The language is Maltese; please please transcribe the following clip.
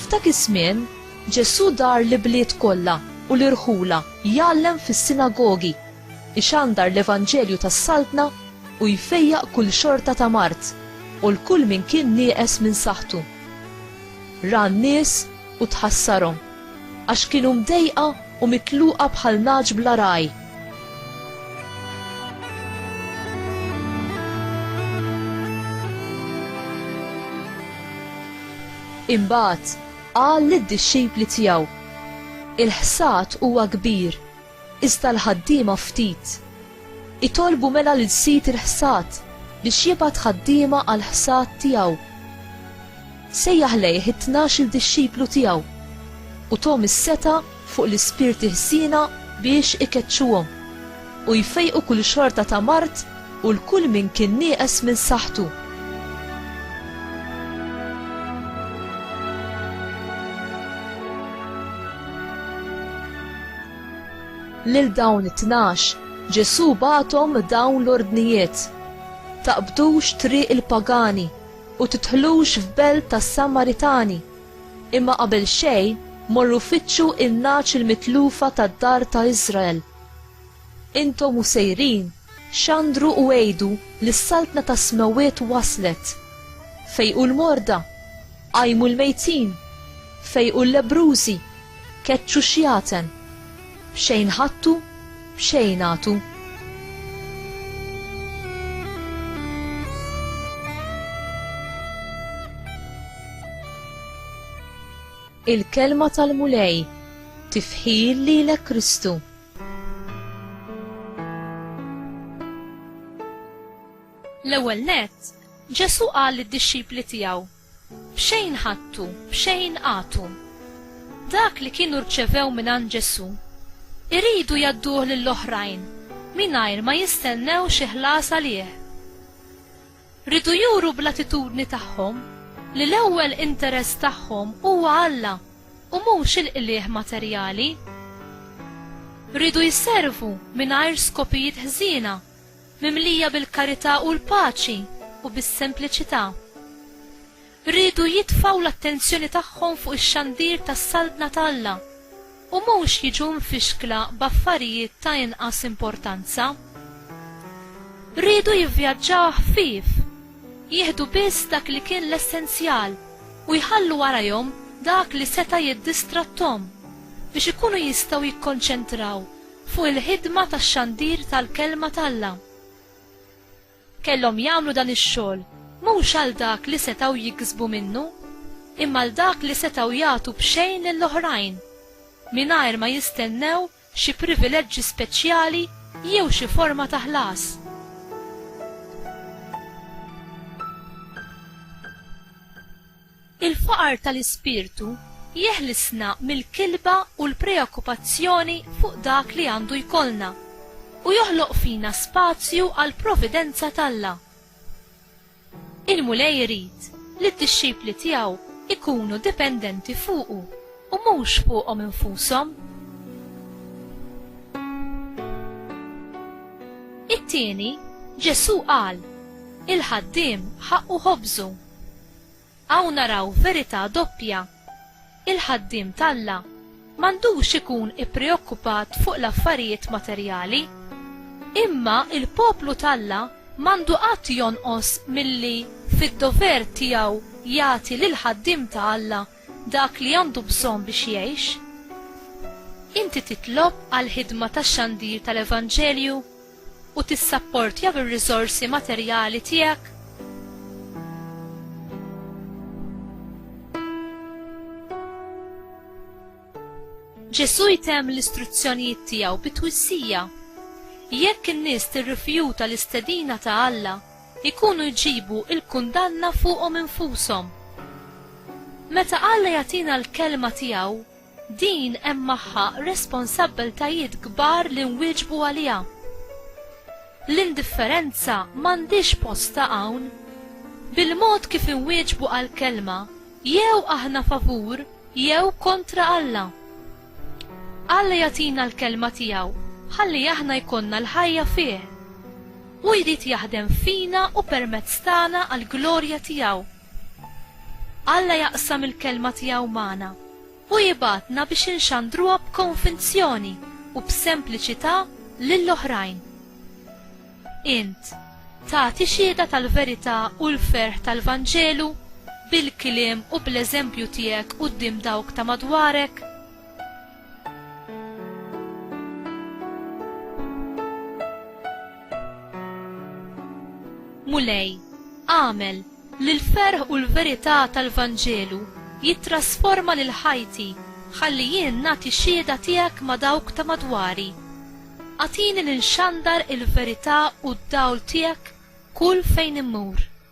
F'dak iż-żmien, Ġesù dar l-ibliet kollha u l-irħula jgħallem fis-sinagogi, ixandar l-Evanġelju tas-Saltna u jfejjaq kull xorta ta' mard u l-kull min kien nieqes minn saħħtu. Ra n-nies u tħassarhom. Għax kienu mdejqa u mitluqa bħal nagħaġ bla ragħaj. Imbagħad qal lid-dixxipli tiegħu, Il-ħsad huwa kbir, Iżda l-ħaddiema ftit. Itolbu mela lil sid il-ħsad biex jibgħat ħaddiema għall-ħsad tiegħu. Sejjaħ lejh it-tnax-il dixxiplu tiegħu u thom is-setgħa fuq l-ispirti ħżiena biex ikeċċuhom u jfejqu kull xorta ta' mard U l-kull min kien nieqes minn saħħtu. Lil dawn it-tnax, Ġesù bagħathom dawn l-ordnijiet, Taqbdux triq il-pagani u tidħlux f'belt tas-Samaritani, imma qabel xejn morru fittxu n-nagħaġ il-mitlufa tad-dar ta' Iżrael. Intom u sejrin, xandru u għidu li s-Saltna tas-Smewwiet waslet! Fejqu l-morda! Qajmu l-mejtin! Fejqu l-lebbrużi! Keċċu x-xjaten! B'xejn ħadtu, b'xejn agħtu. Il-Kelma tal-Mulej, Tifħir lilek Kristu! L-ewwel nett, Ġesù qal lid-dixxipli tiegħu, B'xejn ħadtu, b'xejn agħtu. Dak li kienu rċevew mingħand Ġesù, iridu jgħadduh lill-oħrajn mingħajr ma jistennew xi ħlas għalih. Riedu juru bl-attitudni tagħhom li l-ewwel interess tagħhom huwa Alla u mhux il-qligħ materjali. Riedu jservu mingħajr skopijiet ħżiena, mimlija bil-karità u l-paċi u bis-sempliċità. riedu jitfgħu l-attenzjoni tagħhom fuq ix-xandir tas-Saltna ta' Alla u mhux jiġu mfixkla b'affarijiet ta' inqas importanza. Riedu jivvjaġġaw ħfief, jieħdu biss dak li kien l-essenzjal u jħallu warajhom dak li seta' jiddistratthom biex ikunu jistgħu jikkonċentraw fuq il-ħidma tax-xandir tal-Kelma t'Alla. Kellhom jagħmlu dan ix-xogħol mhux għal dak li setgħu jiksbu minnu, imma għal dak li setgħu jagħtu b'xejn lil oħrajn, mingħajr ma jistennew xi privileġġi speċjali jew xi forma ta' ħlas. Il-faqar tal-ispirtu jeħlisna mill-kilba u l-preokkupazzjoni fuq dak li għandu jkollna, u joħloq fina spazju għall-providenza t'Alla. Il-Mulej irid li d-dixxipli tiegħu jkunu dipendenti fuqu u mhux fuqhom infushom. It-tieni, Ġesù qal, Il-ħaddiem ħaqqu ħobżu. Hawn naraw verità doppja. Il-ħaddiem t'Alla m'għandux ikun ippreokkupat fuq l-affarijiet materjali. Imma l-poplu t'Alla m'għandu qatt jonqos milli fid-dover tiegħu jagħti lill-ħaddiem ta' Alla dak li għandu bżonn biex jgħix. Inti titlob għall-ħidma tax-xandir tal-evanġelju? u tissapportja bir-riżorsi materjali tiegħek? Ġesù jtemm l-istruzzjonijiet tiegħu bi twissija. Jekk in-nies tirrifjuta l-istedina ta' Alla, ikunu jġibu l-kundanna fuqhom infushom. Meta Alla jagħtina l-kelma tiegħu, Din hemm magħha responsabbiltajiet kbar li nwieġbu għaliha. L-indifferenza m'għandhiex postha hawn. Bil-mod kif inwieġbu għall-Kelma, jew aħna favur jew kontra Alla. Alla jagħtina l-Kelma tiegħu ħalli aħna jkollna l-ħajja fih. Hu jrid jaħdem fina u permezz tagħna għall-glorja tiegħu. Alla jaqsam il-Kelma tiegħu magħna u jibgħatna biex inxandruha b'konvinzjoni u b'sempliċità lil oħrajn. Int tagħti xhieda tal-verità u l-ferħ tal-Vanġelu bil-kliem u bl-eżempju tiegħek quddiem dawk ta' madwarek? Mulej, agħmel li l-ferħ u l-verità tal-Vanġelu jittrasforma lil ħajti ħalli jien nagħti xhieda tiegħek ma' dawk ta' madwari. Agħtini li nxandar il-verità u d-dawl tiegħek kull fejn immur.